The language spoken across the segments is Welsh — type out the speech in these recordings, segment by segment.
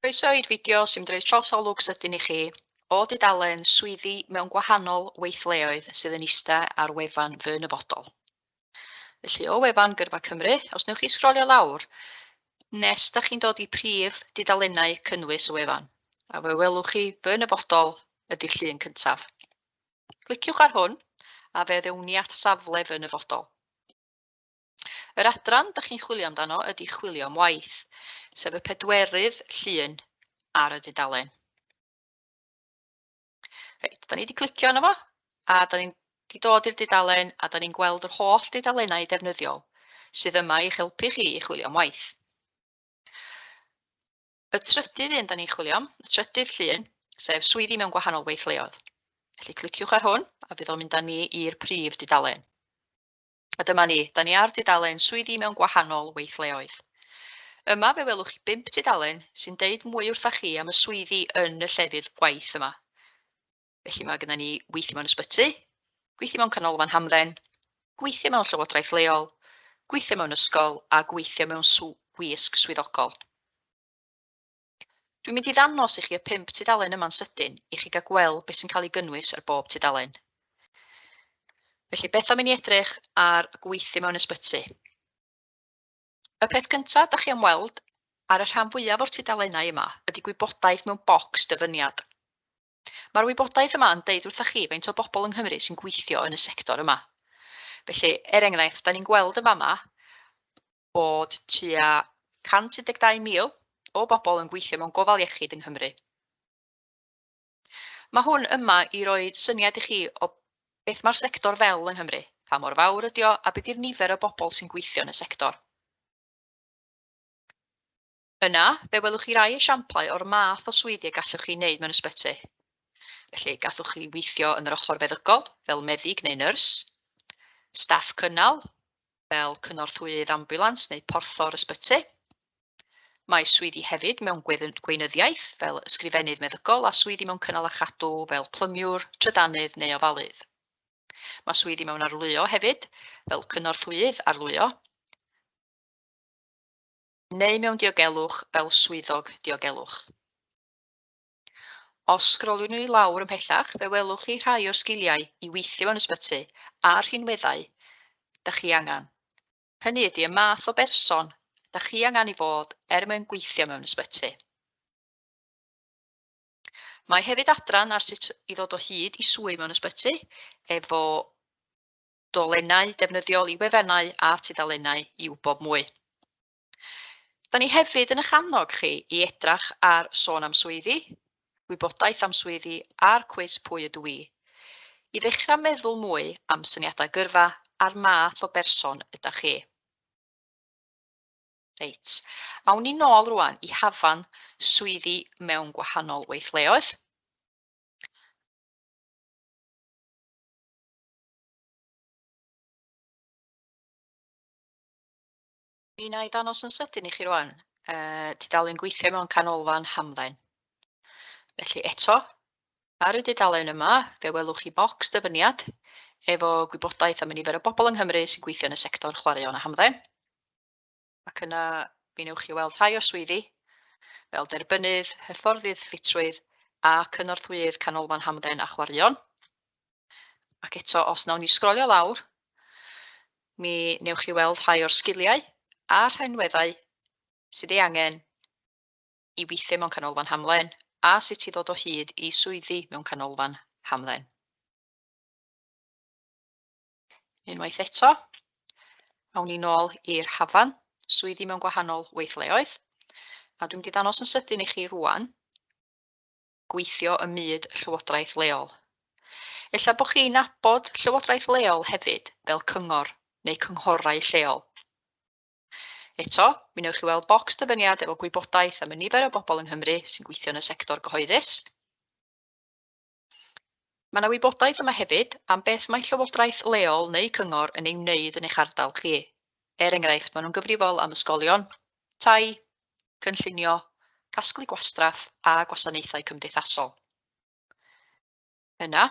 Croeso i'r fideo sy'n mynd roi trosolwg sydyn i chi o dudalen swyddi mewn gwahanol weithleoedd sydd yn ista ar wefan Fy Nyfodol. Felly o wefan Gyrfa Cymru, os newch chi sgrolio lawr nes da chi'n dod i prif dudalennau cynnwys y wefan, a fe welwch chi Fy Nyfodol ydy'r llun cyntaf. Cliciwch ar hwn a fe ddewn ni at safle Fy Nyfodol. Yr adran dych chi'n chwilio amdano ydy chwilio am waith, sef y pedwerydd llun ar y dudalen. Reit, da ni wedi clicio yno fo, a da ni'n di dod i'r dudalen a da ni'n gweld yr holl dudalennau defnyddiol sydd yma i'ch helpu chi i chwilio am waith. Y trydydd un da ni'n chwilio am, y trydydd llun, sef swyddi mewn gwahanol weithleoedd. Felly cliciwch ar hwn a fydd o'n mynd â ni i'r prif dudalen. A dyma ni, da ni ar dudalen Swyddi mewn Gwahanol Weithleoedd. Yma fe welwch chi bump tudalen sy'n deud mwy wrthach chi am y swyddi yn y llefydd gwaith yma. Felly mae gyda ni weithio mewn ysbyty, gweithio mewn canolfan hamdden, gweithio mewn llywodraeth leol, gweithio mewn ysgol a gweithio mewn sw wisg swyddogol. Dwi'n mynd i ddangos i chi y pump tudalen yma'n sydyn i chi gael gweld beth sy'n cael ei gynnwys ar bob tudalen. Felly, beth am i ni edrych ar gweithio mewn ysbyty? Y peth cyntaf da chi am weld ar y rhan fwyaf o'r tudalennau yma ydy gwybodaeth mewn bocs dyfyniad. Mae'r wybodaeth yma yn deud wrthych chi faint o bobl yng Nghymru sy'n gweithio yn y sector yma. Felly, er enghraifft, da ni'n gweld yn fama bod tua 112,000 o bobl yn gweithio mewn gofal iechyd yng Nghymru. Mae hwn yma i roi syniad i chi o beth mae'r sector fel yng Nghymru, pa mor fawr ydy o a beth yw'r nifer o bobl sy'n gweithio yn y sector. Yna, fe welwch chi rai esiamplau o'r math o swyddi y gallwch chi wneud mewn ysbyty. Felly, gallwch chi weithio yn yr ochr feddygol, fel meddyg neu nyrs, staff cynnal, fel cynorthwyydd ambiwlans neu porthor ysbyty. Mae swyddi hefyd mewn gweinyddiaeth, fel ysgrifennydd meddygol, a swyddi mewn cynnal a chadw, fel plymiwr, trydanydd neu ofalydd. Mae swyddi mewn arlwyo hefyd, fel cynorthwyydd arlwyo, neu mewn diogelwch fel swyddog diogelwch. Os sgroliwn ni lawr ymhellach, fe welwch chi rhai o'r sgiliau i weithio mewn ysbyty a'r rhinweddau da chi angen. Hynny ydy y math o berson da chi angen i fod er mwyn gweithio mewn ysbyty. Mae hefyd adran ar sut i ddod o hyd i swydd mewn ysbyty efo dolennau defnyddiol i wefennau a tudalennau i wybod mwy. Da ni hefyd yn eich annog chi i edrach ar Sôn am Swyddi, Gwybodaeth am Swyddi a'r cwis Pwy ydw i? i ddechrau meddwl mwy am syniadau gyrfa a'r math o berson ydych chi. Reit, awn ni nôl rwan i hafan swyddi mewn gwahanol weithleoedd. Mi wna i ddangos yn sydyn i chi rwan. Uh, tudalen gweithio mewn canolfan hamdden. Felly eto, ar y dudalen yma, fe welwch chi bocs dyfyniad efo gwybodaeth am y nifer o bobl yng Nghymru sy'n gweithio yn y sector chwaraeon a hamdden. Ac yna, mi newch chi weld rhai o'r swyddi, fel derbynnydd, hyfforddydd ffitrwydd a cynorthwyydd Canolfan Hamdden a Chwaraeon. Ac eto, os nawn ni sgrolio lawr, mi newch chi weld rhai o'r sgiliau a'r rhaenweddau sydd ei angen i weithio mewn canolfan hamlen a sut i ddod o hyd i swyddi mewn canolfan hamlen. Unwaith eto, awn ni nôl i'r hafan, swyddi mewn gwahanol weithleoedd, a dwi'n mynd i ddangos yn sydyn i chi rwan gweithio ym myd llywodraeth leol. Ella bod chi'n nabod llywodraeth leol hefyd fel cyngor neu cynghorau lleol. Eto, mi newch chi weld bocs dyfyniad efo gwybodaeth am y nifer o bobl yng Nghymru sy'n gweithio yn y sector gyhoeddus. Mae yna wybodaeth yma hefyd am beth mae llywodraeth leol neu cyngor yn ei wneud yn eich ardal chi. Er enghraifft, maen nhw'n gyfrifol am ysgolion, tai, cynllunio, casglu gwastraff a gwasanaethau cymdeithasol. Yna,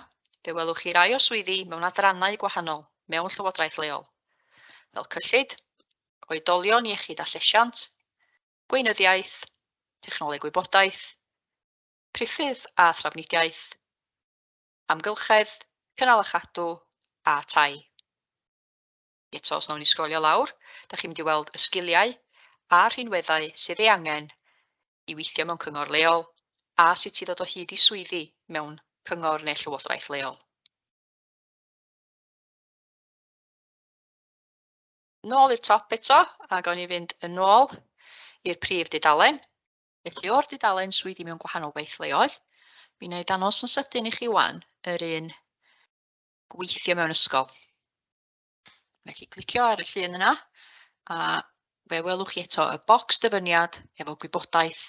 fe welwch chi rai o'r swyddi mewn adrannau gwahanol mewn llywodraeth leol, fel cyllid, oedolion iechyd a llesiant, gweinyddiaeth, technoleg wybodaeth, priffydd a thrafnidiaeth, amgylchedd, cynnal a chadw, a tai. Eto, os nawn ni sgrolio lawr, da chi'n mynd i weld y sgiliau a'r rhinweddau sydd ei angen i weithio mewn cyngor leol a sut i ddod o hyd i swyddi mewn cyngor neu llywodraeth leol. Nôl i'r top eto, a gawn ni fynd yn ôl i'r prif dudalen. Felly o'r dudalen swyddi mewn gwahanol weithleoedd, mi wna i ddangos yn sydyn i chi wan yr un gweithio mewn ysgol. Felly clicio ar y llun yna a fe welwch chi eto y bocs dyfyniad efo gwybodaeth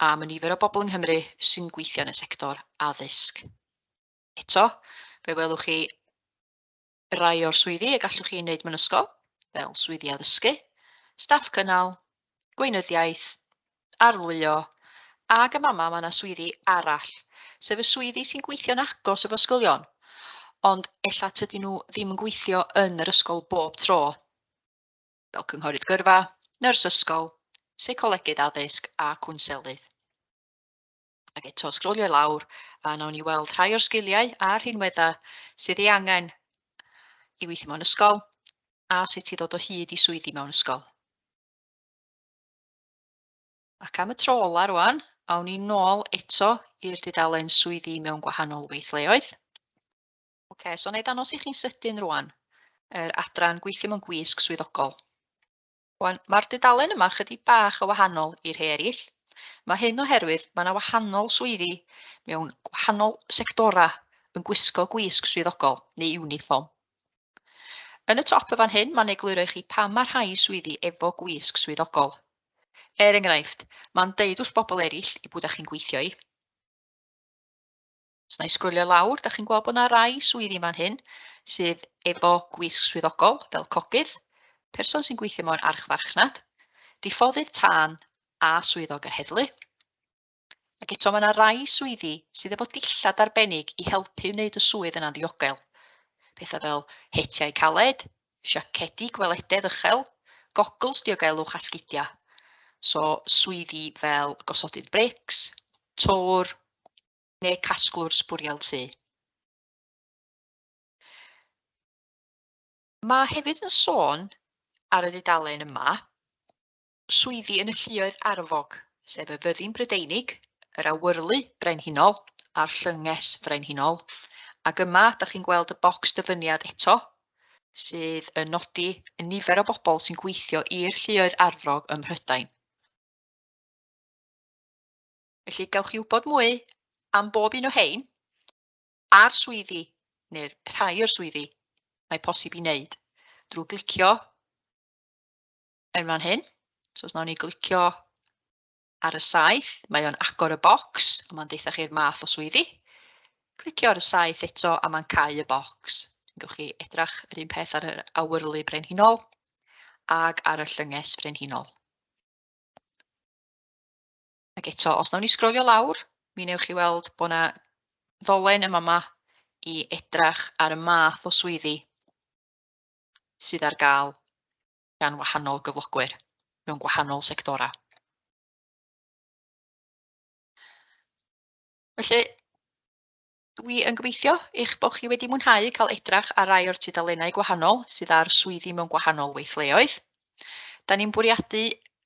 am y nifer o bobl yng Nghymru sy'n gweithio yn y sector addysg. Eto, fe welwch chi Rhai o'r swyddi y gallwch chi wneud mewn ysgol, fel swyddi addysgu, staff cynnal, gweinyddiaeth, arlwyo, ac am amau mae yna swyddi arall, sef y swyddi sy'n gweithio'n agos efo ysgolion, ond ella tydyn nhw ddim yn gweithio yn yr ysgol bob tro, fel cynghorydd gyrfa, nyrs ysgol, seicolegydd addysg a cwnselydd. Ac eto, sgrolio lawr, a nawn ni weld rhai o'r sgiliau a'r rhinweddau sydd ei angen i weithio mewn ysgol, a sut i ddod o hyd i swyddi mewn ysgol. Ac am y tro ola rwan, awn ni nôl eto i'r dudalen swyddi mewn gwahanol weithleoedd. OK, so na i ddangos i chi'n sydyn rwan yr adran gweithio mewn gwisg swyddogol. Wan, mae'r dudalen yma chydig bach o wahanol i rhai eraill. Mae hyn oherwydd mae yna wahanol swyddi mewn gwahanol sectorau yn gwisgo gwisg swyddogol neu uniform. Yn y top y fan hyn, mae'n egluro i chi pa mae rhai swyddi efo gwisg swyddogol. Er enghraifft, mae'n deud wrth bobl eraill i bwyd â chi'n gweithio i. Os na i sgrwlio lawr, da chi'n gweld bod yna rai swyddi yma'n hyn sydd efo gwisg swyddogol fel cogydd, person sy'n gweithio mewn archfarchnad, diffoddydd tân a swyddog yr heddlu. Ac eto mae yna rai swyddi sydd efo dillad arbennig i helpu wneud y swydd yna'n ddiogel. Pethau fel hetiau caled, siacedi gwelededd uchel, gogls diogelwch a sgidiau. So swyddi fel gosodydd brics, tor, neu casglwr sbwriel tŷ. Mae hefyd yn sôn ar y dudalen yma swyddi yn y lluoedd arfog, sef y fyddin brydeinig, yr awyrlu brenhinol a'r llynges frenhinol. Ac yma, da chi'n gweld y bocs dyfyniad eto, sydd yn nodi y nifer o bobl sy'n gweithio i'r lluoedd arfog ym Mhrydain. Felly, gawch chi wybod mwy am bob un o hein a'r swyddi, neu'r rhai o'r swyddi mae posib i wneud drwy glicio yn fan hyn. So os nawn ni glicio ar y saith, mae o'n agor y bocs a mae'n deitha chi'r math o swyddi. Clicio ar y saith eto a mae'n cau y bocs. Gawch chi edrach yr un peth ar yr awyrlu brenhinol ac ar y llynges brenhinol. Ac eto, os nawn ni sgrolio lawr, mi newch chi weld bod yna ddolen yma yma i edrach ar y math o swyddi sydd ar gael gan wahanol gyflogwyr mewn gwahanol sectorau. Felly, Dwi yn gobeithio eich bod chi wedi mwynhau cael edrach ar rai o'r tudalennau gwahanol sydd ar swyddi mewn gwahanol weithleoedd. Da ni'n bwriadu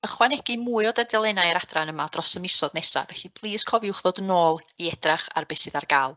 ychwanegu mwy o dudalennau yr adran yma dros y misoedd nesaf, felly plis cofiwch ddod yn ôl i edrach ar beth sydd ar gael.